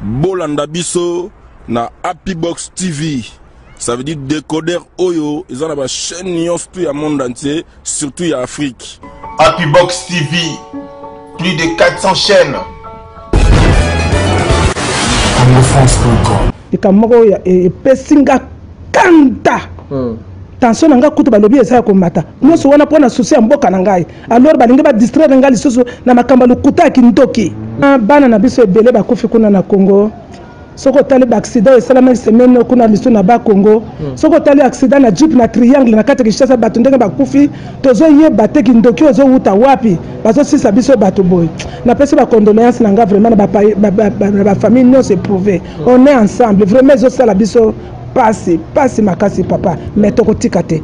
Bolanda biso na Happy Box TV. Ça veut dire décodeur oyo ils ont la chaîne nyonso tout le monde entier, surtout ya Afrique. Happy Box TV, plus de 400 chaînes. likambo moko oyo e, epesi nga kanda hmm. tension na ngai kutu balobi eza ya komata nyonso wana mpo na susi ya mboka na ngai alors balingi ba distraire nga lisusu na makambo ya lokuta ya kindoki ah, bana na biso ebele bakufi kuna na congo soki otali baaccident esalamaki semaine kuna misu na bakongo hmm. soki otali accident na jeep na triangle na kati ya kinshasa bato ndenge bakufi tozoyeba te kindoki oyo ezowuta wapi bazosisa biso bato boye napesi bacondoléance na nga vraiment na bafamille nyonso eprouve hmm. on est ensemble vraiment ezosala biso pasi pasi makasi papa me tokotika te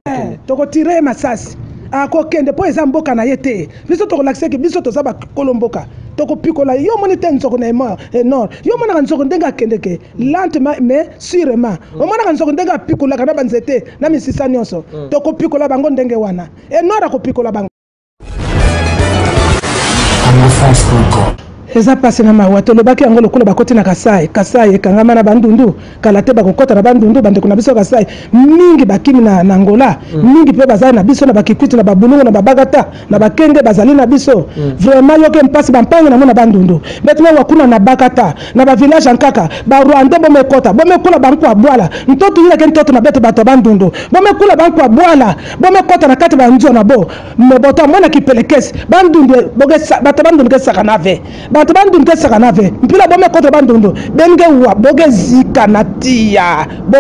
eh, tokotire ye masasi akokende mpo eza mboka na ye te biso tokolakisa eke biso toza bakolo mboka tokopikola yo omoni te nzoko na emor enor eh, yo omonaka nzoko ndenge akendeke lentement mais sûrement mm. omonaka nzoko ndenge apikolaka na banzete na misisa nyonso mm. tokopikola bango ndenge wana enor akopikola bango eza pasi na mawa tolobaki yango lokola bakoti na kasai kasai ekangama na bandundu kala te bakokɔta na bandundu bandeko na biso kasai mingi bakimi na, na angola mm. mingi mpe bazali na biso na bakikwiti na babulungu na babagata na bakenge bazali na biso mm. vraiment yoke mpasi bampangi nango na bandundu betina wakuna na bakata na bavillage nkaka barwande bomekɔta bomekola banko abwala ntoto yilake ntoto na beto bato ya bandundu bomekola banko abwala Bome kota na kati ba nzua na bo me boto amona kipelekesi bandundu boke bato bandundu ke saka na ve bato bandundu ke saka na ve mpila bome kota bandundu benge wa boke zika na tia bo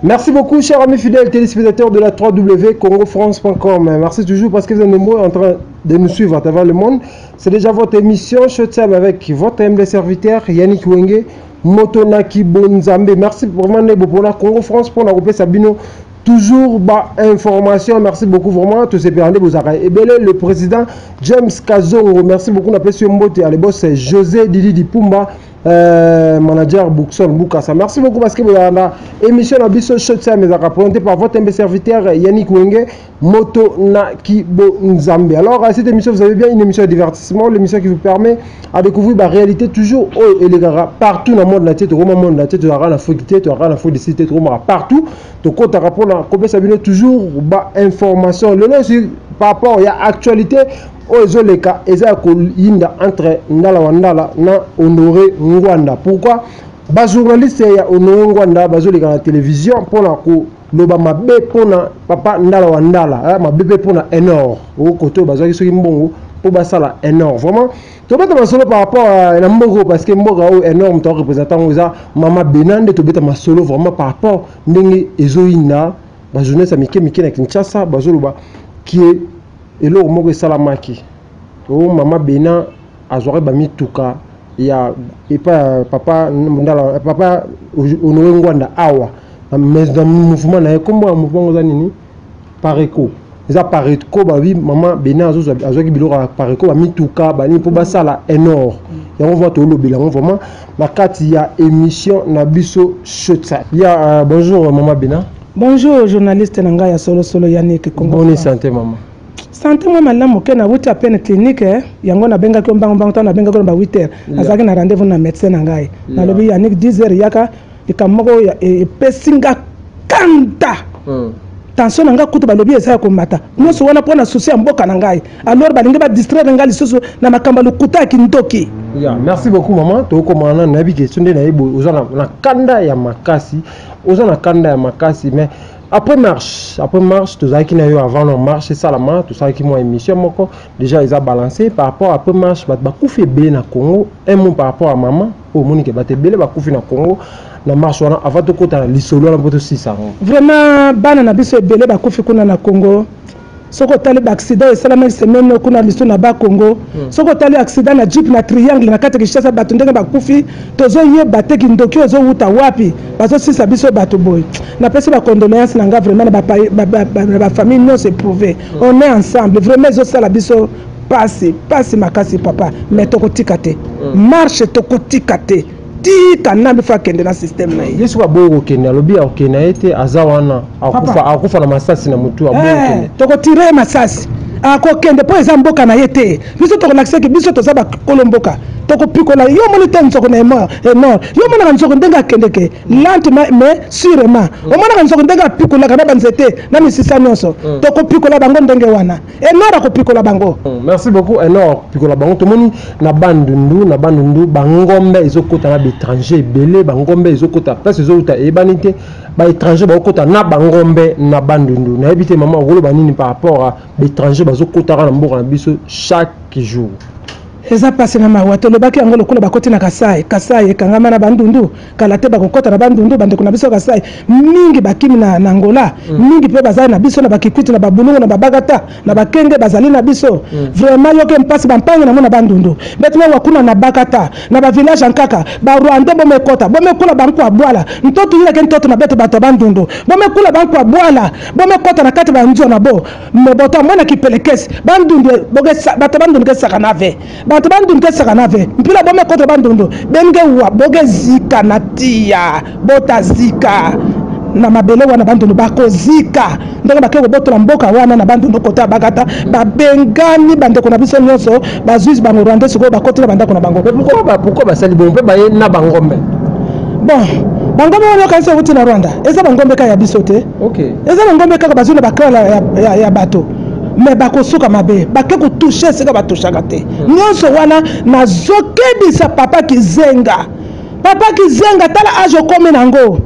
Merci beaucoup, chers amis fidèles téléspectateurs de la 3W CongoFrance.com. Merci toujours parce que vous êtes nombreux en train de nous suivre à travers le monde. C'est déjà votre émission Showtime avec votre MD serviteur Yannick Wenge. moto na kibonzambe merci vraiment nebo mpona congo france mpona kopesa bino toujours ba information merci beaucoup vraiment tosepela nde bozalaka ebele le président james kazongo merci beaucoup napesi yo mbote ya lebos josé didi dipumba euh, manager bookson bukasa merci beaucoup parce que boyaka na émission na biso shotime ezalaka présenté par votre mbe serviteur yannick wenge moto na kibonzambe alors à cette émission vous avez bien une émission de divertissement l'émission qui vous permet à découvrir la réalité toujours oyo oh, elekaka partout na monde na te tokoma monde na te tozalaka na foki te tozalaka na fodi si te tokomaka partout tokotaka mpona kopesa bino toujours bainformation lelo esi par rapport ya actualité oyo ezoleka eza ya koyinda entre ndala wa ndala na honore ngwanda pourquoi bajournaliste ya honore ngwanda bazoleka na télévision mpona ko loba mabe mpo na papa ndala wa ndala eh, mabe mpe mpo na enor o kote oyo bazwaki soki mbongo mpo basala enor vraiment tobeta masolo par rapport euh, na mboka oyo parce que mboka oyo enor moto arepresente yango eza mama bena nde tobeta masolo vraiment par rapport ndenge ezoyinda bajournaliste ya mike mike na kinshasa bazoloba kie eloko moko esalamaki o oh, mama bena azwaka ba mituka ya epa papa ndala papa Honore Ngwanda awa na mouvement na ye kombo ya mouvement oza nini Pareco eza Pareco ba oui maman Bena azozwa azwaki biloko ya Pareco ba mituka ba nini mpo basala enor yango vraiment tolobela yango vraiment na kati ya émission na biso shotsa ya uh, bonjour maman Bena bonjour journaliste na ngai ya solosolo Yannick Kongo bonne santé maman sante mwa malamu moke nauti ya pene klinike eh, yango nabengaki yo mbango mbango ntango nabengaki yo na ba 8 heures nazalaki na rendez-vous na medecin na ngai nalobi yannik 10 heures yaka likambo moko e, epesi nga kanda hmm. tension na ngai kutu balobi eza ya komata nyonso wana mpo na susi ya mboka na ngai alors balingi badistraire ngai lisusu na makambo ya lokuta ya kindoki ya merci beaucoup mama tokokomana nanu nayebi question nde nayebi oza na kanda ya makasi oza na kanda ya makasi mais après marche après marche tozalaki na yo avant no marche esalama tosalaki mwa émission moko déjà eza balance par rapport après marche bato bakufi ebele na congo un mot par rapport ya mama oyo omoni ke bato ebele bakufi na congo na marche wana avant tokota na lisolo wana mpo tosisa yango vraiment bana na biso ebele bakufi kuna na congo soki otali ba accident esalamaki semaine oyo kuna lisu na ba congo hmm. soki otali accident na jeep na triangle na kati kishasa bato ndenge bakufi tozoyeba te kindoki ozowuta wapi bazosisa biso bato boye napesi bacondoléance na nga vraiment na bafamille nyonso eprouve hmm. on est ensemble vraiment ezosala biso pasi pasi makasi papa mais tokotika te hmm. marche tokotika te ti kanambe fo akende na systeme na ye ye soki aboyi kokende alobi akokende ye te aza wana akufa na masasi na motu aboyi eh, kokende tokotire ye masasi akokende mpo eza mboka na ye te biso tokolakisa eke biso toza bakolo mboka tokopikola yo omoni te nzoko na enor eh, yo omonaka nzoko ndenge akendeke lentement mais surement mm. omonaka nzoko ndenge apikolaka na banzete na misisa nyonso mm. tokopikola bango ndenge wana enor akopikola bango hmm, merci beaucoup enor akopikola bango tomoni na bandundu na bandundu bangombe ezokota na baétranger ebele bangombe ezokota place ezowuta eyebani te baétranger bakokota na bangombe na bandundu nayebi te mama okoloba nini par rapport a baétranger bazokotaka na mboka na biso chaque jour Eza pasi na mawa tolobaki yango lokola bakoti na kasai kasai ekangama na bandundu kala te bakokota na bandundu bandeko na biso ya kasai mingi bakimi na, na angola mm. mingi mpe bazali na biso na bakikwiti na babulungu na babagata na bakenge bazali na biso mm. vraiment yoke mpasi bampangi nango na bandundu mbeti mawa kuna na bakata na bavillage ya nkaka barwande bomekota bomekula banko ya bwala ntoto yilake ntoto na bete bato ya bandundu bomekula banko ya bwala bomekota na kati banzwa na bo Moboto amona kipelekesi bandundu boke bato bandundu ke saka na ve bato bandundu ke saka na ve mpila bome koto bandundu benge wa boke zika na tiya bota zika na mabele wana bandundu bakozika ndenge bake kobotola mboka wana na bandundu kota bakata babengani bandeko na biso nyonso bazuizi bango rwandais sikoyo bakoti na bandako na bango pourkoi basali bongo mpe baye na bangombe bon bangombe wana okanisi okuti na rwanda eza bangombe kaka ya biso te okay. eza na ngombe kaka bazwi na bakrala ya, ya, ya bato me bakosuka mabe bake kotushe esika batushaka te hmm. nyonso wana nazokebisa papa kizenga papa kizenga tala age okomi na yango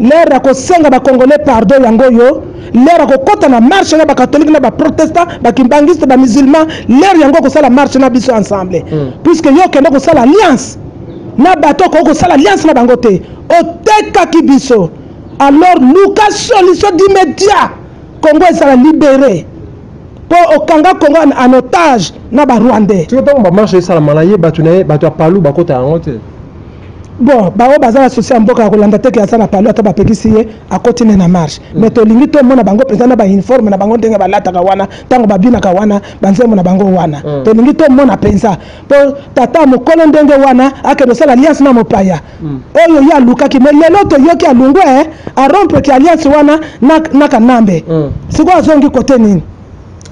lere ya kosenga bacongolais pardon yango oyo lere ya kokɔta na marche na bakatholike na baprotestant bakimbangiste bamusulman lere yango okosala marche na biso ensemble hmm. puiske yo okende kosala alliance na bato okoki kosala alliance na bango te otekaki biso alors luka solution d'immédiat congo ezala libere mpo okanga congo en otage na barwandais soki ntango bamarche esalamana ye bato na ye bato ya palu bakota yango te bon baoyo baza na sosi ya mboka ya kolanda teke aza na palu ata bapekisi ye akoti ne na marche mm. mais tolingi tomona bango mpenza na bauniforme na bango ndenge balataka wana ntango babinaka wana banzembo na bango wana mm. tolingi tomona mpenza mpo tata mokolo ndenge wana akende osala liance na mopaya oyo ye alukaki me lelo toyoki alungwe eh, arompe ki alliance wana na, na kanambe mm. sikoyo azongi kote nini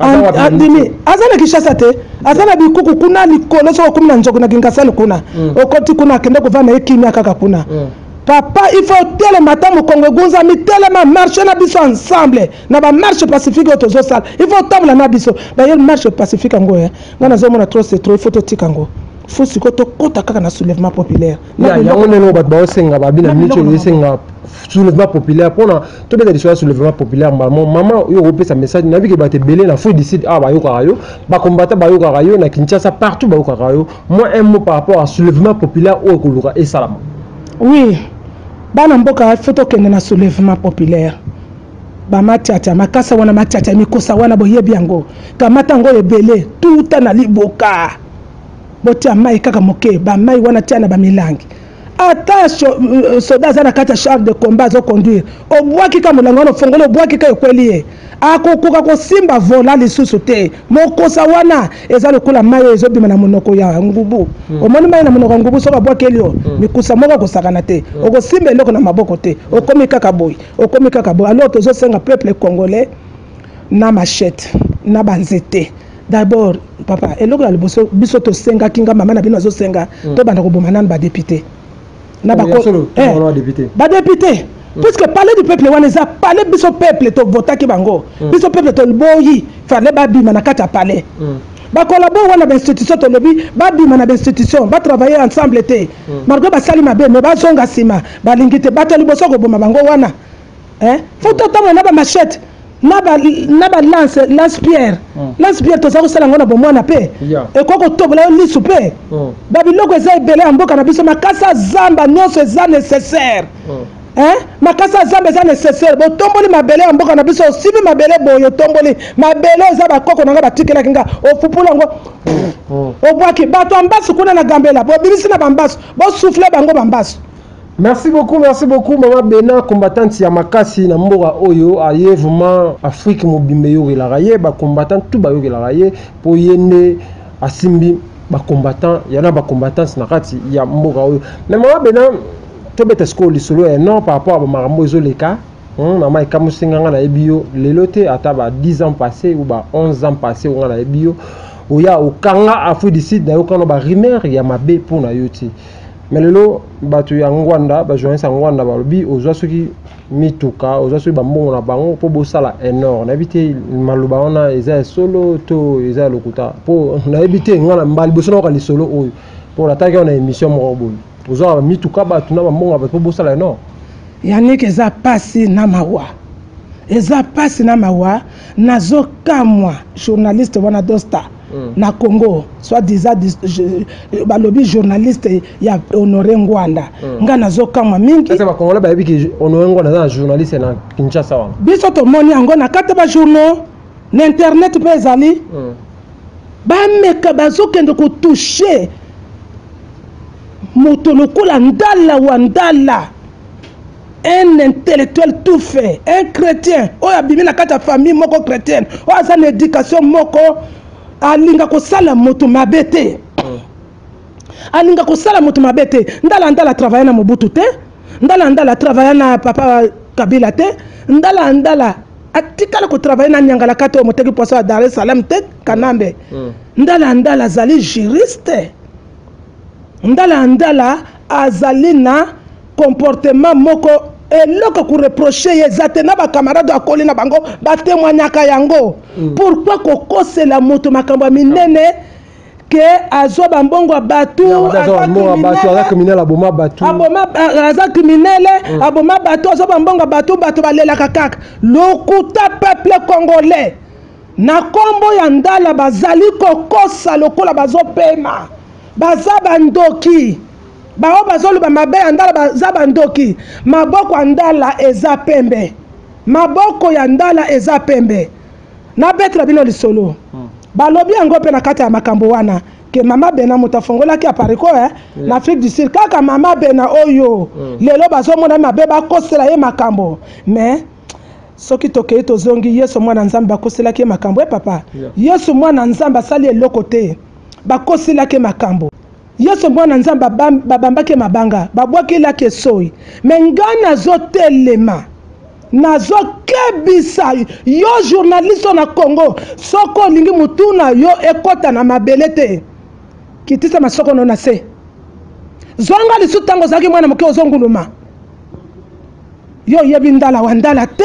andimi aza na kinshasa te aza na bikuku kuna likolo soki okumi na nzoki na kingasani kuna mm. okoti kuna akende kovanda ye kimia kaka kuna mm. papa il faut telema ata mokongo egunzami telema marche na biso ensemble na bamarche pacifique oyo tozosala il faut otambola na biso dailleurs marche pacifique yango eh. ngai nazomona trop c'est trop il faut totika yango faut sikoyo tokota kaka na soulèvement populaire yango ndenge bato baosenga babina mico esenga soulèvement populaire mpona tobeta lisolo ya soulèvement populaire mbamo mama oyo okopesa message nayebi ke bato ebele na fo dicide awa bayokaka yo bakombata bayokaka yo na kinshasa partout bayokaka yo moi un mot par rapport à soulèvement populaire oyo koluka esalama oui bana mboka fo tokende na soulèvement populaire bamatiata makasa wana matiata mikosa wana boyebi yango kamata yango ebele tuta na liboka botia mai kaka moke bamai wana tia na bamilangi ata euh, soda aza na kati ya charge de combat azoconduire obwaki ka molangi wana ofongoli obwaki ka ekweli ye akokoka kosimba vola lisusu te mokosa wana eza lokola mai oyo ezobima na monoko ya ngubu mm. omoni mai na monoko ya ngubu soki abwakeli yo mm. mikusa moko akosakana te mm. okosimba eloko na maboko te okomi kaka boye okomi kaka boye alors tozosenga peuple congolais na machette na banzete d'abord papa eloko ya liboso biso tosengaki nga mama na bino azosenga mm. tobanda koboma nanu badepute na eh, badepute mm. puisque palais du peuple wana eza palais biso peuple tovotaki bango mm. biso peuple toliboyi fale babima na kati ya palais bakolabo wana bainstitution tolobi babima na bainstitution batravaille ensemble te malgre basali mabe me bazonga nsima balingi te bato ya liboso koboma bango wana eh faut totanga na ba machette na ba na ba lance lance pierre mm. lance pierre toza kosala ngo na bomwana pe yeah. ekoki kotobola yo lisu pe mm. babiloko eza ebele ya mboka na biso makasi ya zamba nyonso eza nécessaire mm. eh? makasi ya zamba eza nécessaire botomboli mabele ya mboka na biso osibi mabele boye otomboli mabele eza bakoko na ngai batikelaki nga ofupula yango mm. obwaki bato ya mbasu kuna na gambela bobimisi na bambasu bosufle bango bambasu Merci beaucoup, merci beaucoup maman Bena combattante ya makasi na mboka oyo aye vraiment Afrique mobimba eyokelaka ye ba combattants tout bayokelaka ye po ye nde asimbi ba combattants ya na ba combattants na kati ya mboka oyo mais maman Bena tobeta sikoyo lisolo ya non par rapport ya bamakambo ezoleka hmm, na mai kamusi nga nga nayebi yo lelo te ata ba 10 ans passé ou ba 11 ans passé nga nayebi yo oya okanga afrique du sud nayokano ba rumeur ya mabe mpo na yo te mais lelo bato ya ngwanda bajournaliste ya ngwanda balobi ozwa soki mituka ozwa soki bambongo na bango mpo bosala enor nayebi te maloba wana eza ya solo to eza ya lokuta mpo nayebi te ngai na mbala liboso nayoka lisolo oyo mpo nataki wana émission moko boye ozwaka mituka bato na bambongo na bato mpo bosala enor yanike eza mpasi na mawa eza mpasi na mawa nazo kamwa journaliste wana dosta mm. na congo soit disant balobi journaliste ya honore ngwanda mm. ngai nazo kamwa mingi bakongolais bayebi ke honore ngwanda aza na journaliste na kinshasa wana biso tomoni yango na kati bajournaux na internet mpe ezali mm. bameka bazokende kotouche moto lokola ndala wa ndala un intellectuel tout fait un chrétien oyo abimi na kati ya famille moko chrétienne oyo aza na éducation moko alinga kosala moto mabe te alinga kosala moto mabe te ndala ndala travaille na mobutu te ndala ndala travaille na papa kabila te ndala ndala atikala kotravaille na nyangalakata oyo moteki poso ya dar es salaam te kanambe mm. ndala ndala azali juriste ndala ndala azali na comportement moko eloko koreproche ye eza te na bacamarade akoli na bango batemoignaka yango mm. pourkui kokosela moto makambo ya minene ke azwa bambongo ya bato aza kriminele aboma bato azwa bambongo ya bato bato balelaka kaka lokuta peuple congolais na nkombo ya ndala bazali kokosa lokola bazopema baza bandoki baoyo bazoloba mabe ya ndala baza bandoki maboko ya ndala eza pembe maboko ya ndala eza pembe nabetela bino lisolo hmm. balobi yango mpe na kati ya makambo wana ke mama bena moto afongolaki apariko eh? Hmm. na afrique du sud kaka mama bena oyo hmm. lelo bazomona mabe bakosela ye makambo mais soki tokei tozongi yesu mwana nzambe bakoselaki ye makambo e papa yesu mwana nzambe asali eloko te bakoselaki ye makambo Yesu mwana Nzambe babambaki mabanga, babwaki laki esoi. Me nga nazotelema nazokebisa yo journaliste na Congo, soko olingi mutu na yo ekota na mabele te, kitisa masoko no na se. Zonga lisu tango ozalaki mwana moke ozonguluma. Yo oyebi ndala wa ndala te.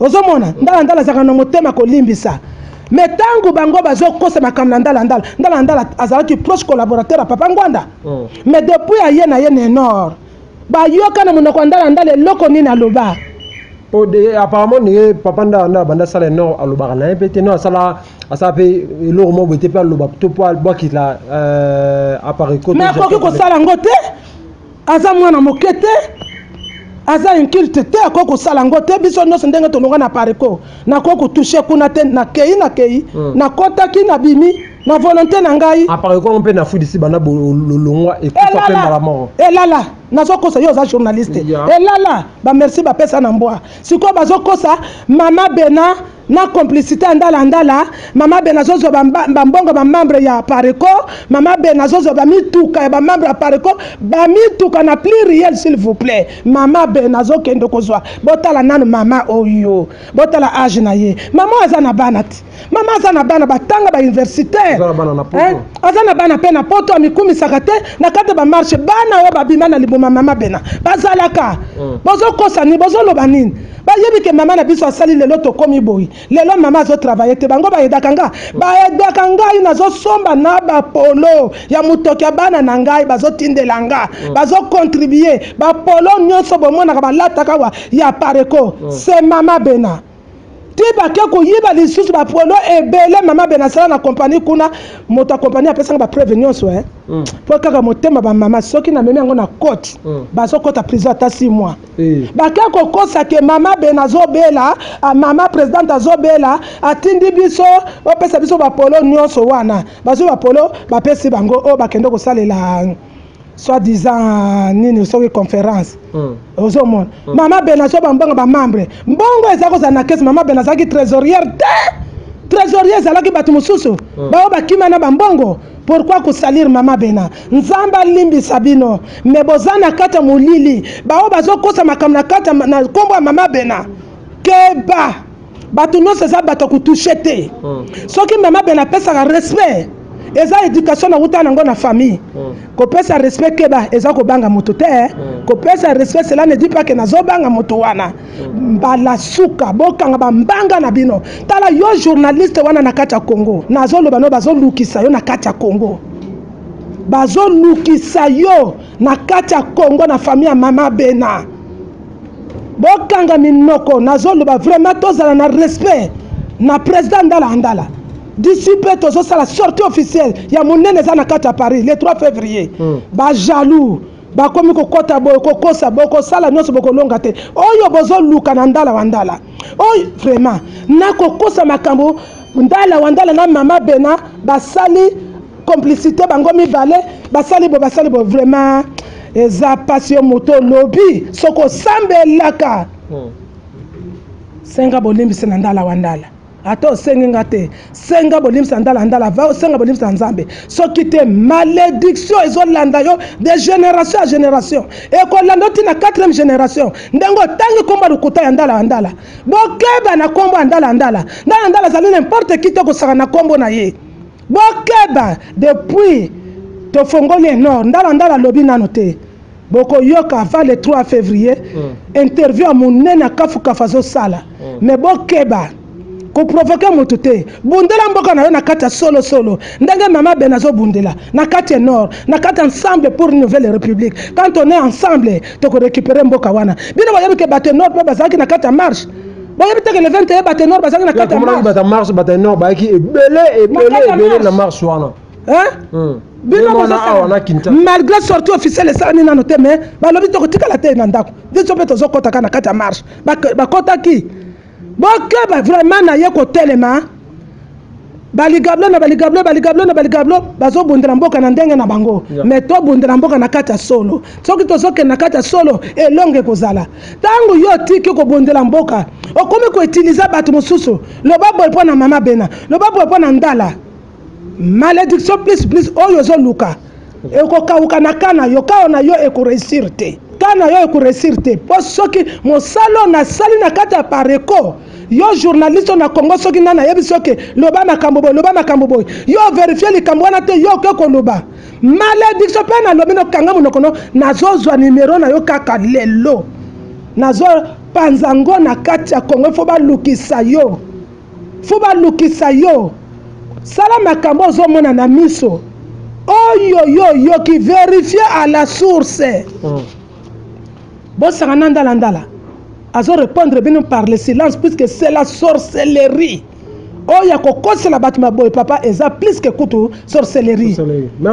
ozomona ndalandala azalaka na motema kolimbisa me ntango bango bazokosa makambo na ndalandala ndalandala azalaki proche collaborateur ya papa ngwanda oh. me depuis aye na ye nenor bayoka na monoko ya ndalandala eloko nini aloba po de apparemment ndenge papa nda nda banda sala ye non alobaka na ye mpe te non asala asala mpe eloko moko boye te mpe aloba to mpo abwakisa euh, appareil kote mais akoki kosala yango te aza mwana moke te aza inculte te akoki kosala yango te biso nyonso ndenge tolonga na pariko nakoki kotouche kuna te nakei nakei hmm. nakotaki nabimi na volonté na ngai apariko mpe nafudisi banda lolongwa ekufa mpe mbala moko elala nazokosa yo oza journaliste elala bamerci bapesa na mbwa sikoyo bazokosa mama bena na complicité ya ndala ndala mama ben azozwa bambongo bamembre ya pareco mama ben azozwa bamituka ya bamembre ya pareco bamituka na plus riel s'il vous plaît mama ben azokende kozwa botala nanu mama oyo botala age na ye mama oyo aza na bana te mama aza na bana batanga bauniversité aza na bana mpe na poto amikumisaka te na kati ya bamarshe bana oyo babima na liboma mama bena bazalaka hmm. bozokosa nini bozoloba nini Ba yebi ke maman na biso asali lelo tokomi boye lelo maman azo travailler te bango ba edaka nga ba edaka ngai nazo somba na ba polo ya mutoki ya bana na ngai bazo tindela nga mm. bazo contribuer ba polo nyoso bomonaka balataka wa ya pareko mm. c'est maman bena ti bake koyiba lisusu bapolo ebele mama bena asala na kompani kuna moto ya kompani apesanga bapreuve nyonso e mpo kaka motema bamama soki namemi yango na cote mm. bazokɔta prison ata 6 mois Eh. bake kokosa ke mama ben azobela ah, mama presidente azobela atindi biso bapesa biso bapolo nyonso wana bazwi bapolo bapesi bango oyo oh, bakende kosalela soit disant nini soki conférence hmm. ozomona hmm. mama ben azo bambongo bamembre mbongo eza kozala na kesi mama ben azalaki trésorière te trésorier ezalaki bato mosusu hmm. baoyo bakima na bambongo Pourquoi ko salir maman Bena? Nzambe alimbisa bino mais boza na kati ya molili baoyo bazokosa makambo na kati na nkombo ya maman Bena keba bato nyonso eza bato ya kotushe te hmm. soki maman Bena apesaka respect eza éducation nawuta nango na famille hmm. kopesa respect keba eza kobanga moto te hmm. kopesa respect cela ne dit pas que nazobanga moto wana mbala suka bokanga bambanga na bino tala yo journaliste wana na kati ya congo nazoloba no bazolukisa yo na kati ya congo bazolukisa yo na kati ya congo na famille ya mama bena bokanga minoko nazoloba vraiment tozala na respect na président ndala andala d'ici mpe tozosala sortie officielle ya monene eza na kati ya paris le 3 février mm. bajaloux bakomi kokota boye kokosa bokosala nyonso bokolonga te oyo bozoluka na ndala wa ndala oyo vraiment nakokosa makambo ndala wa ndala na mama bena basali complicité bango mibale basali bo basali bo vraiment eza mpasi yo moto olobi soki osambelaka hmm. senga bolimbisi na ndala wa ndala ata osengi nga te senga bolimisa ndala ndala va osenga bolimisa ya nzambe soki te malédiction ezolanda yo de génération ya génération ekolanda oti na 4e génération ndenge otangi nkombo ya lokuta ya ndala ya ndala bokeba na nkombo ya ndala ya ndala ndala ya ndala azali na importe ki te kosaka na nkombo na ye bokeba depuis tofongoli enor ndala ndala alobi nano te bokoyoka avant le 3 février mm. interview ya monene akafukafu azosala mm. me bokeba koprovoke moto te bundela mboka na yo na kati ya solosolo ndenge mama ben azobundela na kati ya nord na kati ya ensemble pour une nouvelle république quand on est ensemble tokorécupere mboka wana bino boyebi ke bato ya nord mpe bazalaki na kati ya marche boyebi te ke le 21 bato ya nord bazalaki na kati ya marche bato ya marche bato ya nord bayaki ebele ebele ebele na marche wana bino malgré sorti officiel esalami nano te mais balobi tokotikala te na ndako biso mpe tozokotaka na kati ya marche bakotaki bokeba vraiment na ye kotelema baligablo na baligablo baligablo na baligablo bazobundela mboka na ndenge na bango mais tobundela mboka na kati ya solo soki tozokende na kati ya solo elongo ekozala ntango yo otiki kobundela mboka okomi koutilize bato mosusu loba boye mpo na mama bena loba boye mpo na ndala Malediction plus plus oyo ozo luka ekokauka na ka na yo kao na yo ekoresir te ka na yo ekoresir te mpo soki mosala oyo nasali na kati ya pareco yo journaliste oyo na congo soki nani ayebisi oke loba makambo boye loba makambo boye yo overifie likambo wana te yo oke koloba malediction mpe nalobi nokanga monoko no nazozwa nimero na yo kaka lelo nazopanza ngo na kati ya congo ifo balukisa yo fo balukisa yo sala makambo ozomona na miso oyo yo oyoki verifie à la source mm. bosangana ndala ndala azo répondre bino par le silence puisque c'est la sorcellerie oyo ya kokosela bato maboye papa eza plus ke kutu sorcellerie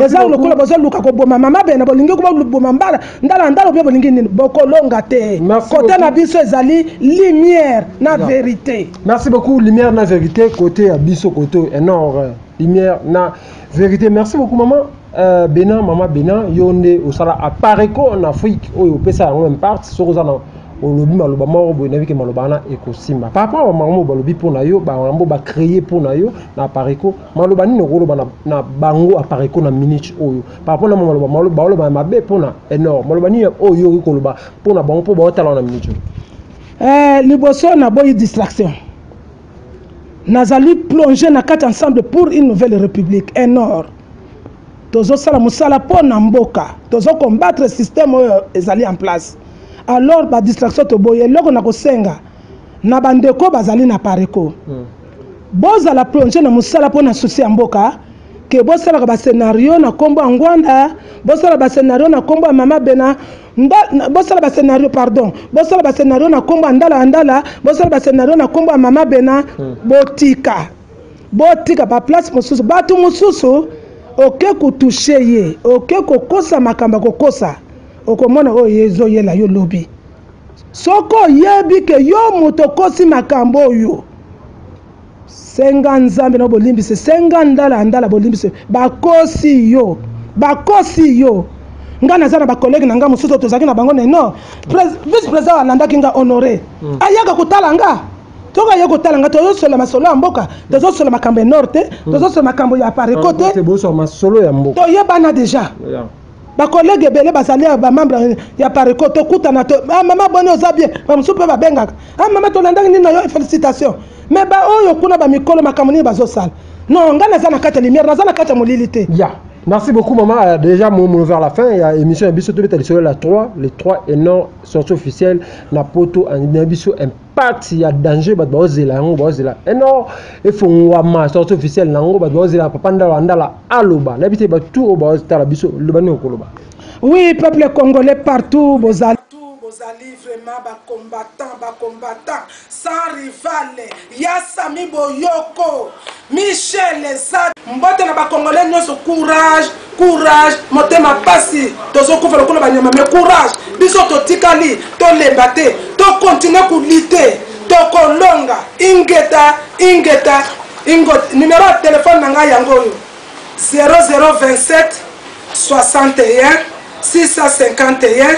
eza lokola bozoluka koboma mama bena bolingi koboma mbala ndala ndala obe bolingi nini bokolonga te kote na biso ezali lumière na verité Merci beaucoup lumière na vérité côté ya biso côté eh, nord lumière na vérité merci beaucoup maman euh, Bena maman Bena yo nde osala apareco en Afrique oyo opesa yango imparte soki oza na olobi maloba moko boye nayebi ke maloba wana ekosimba par rapport bamakambo oyo balobi mpo na yo bamakambo bacreye mpo na yo na apareco maloba nini okoloba na, na bango apareco na minute oyo par rapport na maloba maloba oloba ya mabe mpo na enor maloba nini oyo oyoki koloba mpo na bango mpo baotala na minute oyo Eh, liboso na boyi distraction. Nazali plongé na kati ensemble pour une nouvelle république. Et nord. tozosala mosala mpo na mboka tozokombatre systeme oyo ezali en place alors badistraction toboyi eloko na kosenga na bandeko bazali na pareco hmm. bozala plonge na mosala mpo na susi ya mboka ke bosalaka bascenario na nkombo ya ngwanda bosalaka bascenario na nkombo ya mama bena Nda, na, bosala ba scenario pardon bosala ba scenario na kombo ya ndala ya ndala bosala ba scenario na kombo ya mama bena hmm. botika botika ba place mosusu bato mosusu oke kotushe ye oke kokosa makambo ya kokosa okomona oyo ye ezoyela yo lobi soki oyebi ke yo moto okosi makambo oyo senga nzambe na bolimbisi senga ndala ya ndala bolimbisi bakosi yo bakosi yo ngai naza na bakolege na ngai mosusu tozalaki na bango neno vice président alandaki ngai honore mm. ayaka kotala ngai toka ye kotala ngai tozosola masolo ya mboka tozosola makambo ya nord te mm. tozosola makambo ya pareko te toyebana deja bakolege ebele bazali ya bamembre ya pareco tokutana to ah, mama boni oza bien bamosusu mpe babengaka ah, mama tolandaki nini na yo félicitation mais baoyo kuna bamikolo makambo nini bazosala non ngai naza na kati ya lumière naza na kati ya molili te yeah. Merci beaucoup maman. Euh, déjà mon mot vers la fin, il y a émission Abisso tout le temps sur la 3, les 3 et non sortie officielle na poto en Abisso part ya danger bato baozela yango baozela eno eh efongwama sorti officiel na yango bato baozela papa ndala wa ndala aloba nayebi te bato oyo baotala biso loba nini okoloba oui peuple congolais partout bozali bozali vraiment bacombattant bacombattant sans rival ya sami boyoko Michel Lezard mbote na ba congolais nyoso courage courage motema pasi tozo kufa lokola banyama mais courage biso totikali tolemba te to continuer kulite tokolonga ingeta ingeta ingo numero ya telefone na ngai yango oyo 0027 61 651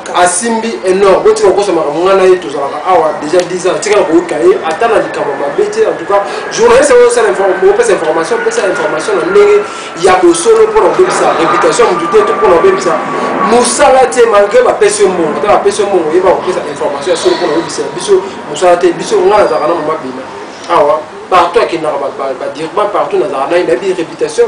asimbi enor botika kokosa makambo ngai na ye tozalaka awa déjà 10 ans tika na koyika ye ata na likambo mabe te en tout cas journaliste yango osala opesa information opesa information na ndenge ya bosolo mpona kobebisa réputation motu te to mpona kobebisa mosala te malgré bapesi yo mbongo ata bapesi yo mbongo oyeba kopesa information ya solo mpona kobebisa biso mosala te biso ngai nazalaka na mama bina awa partout akendaka badirba partout nazalaka naye nayebi réputation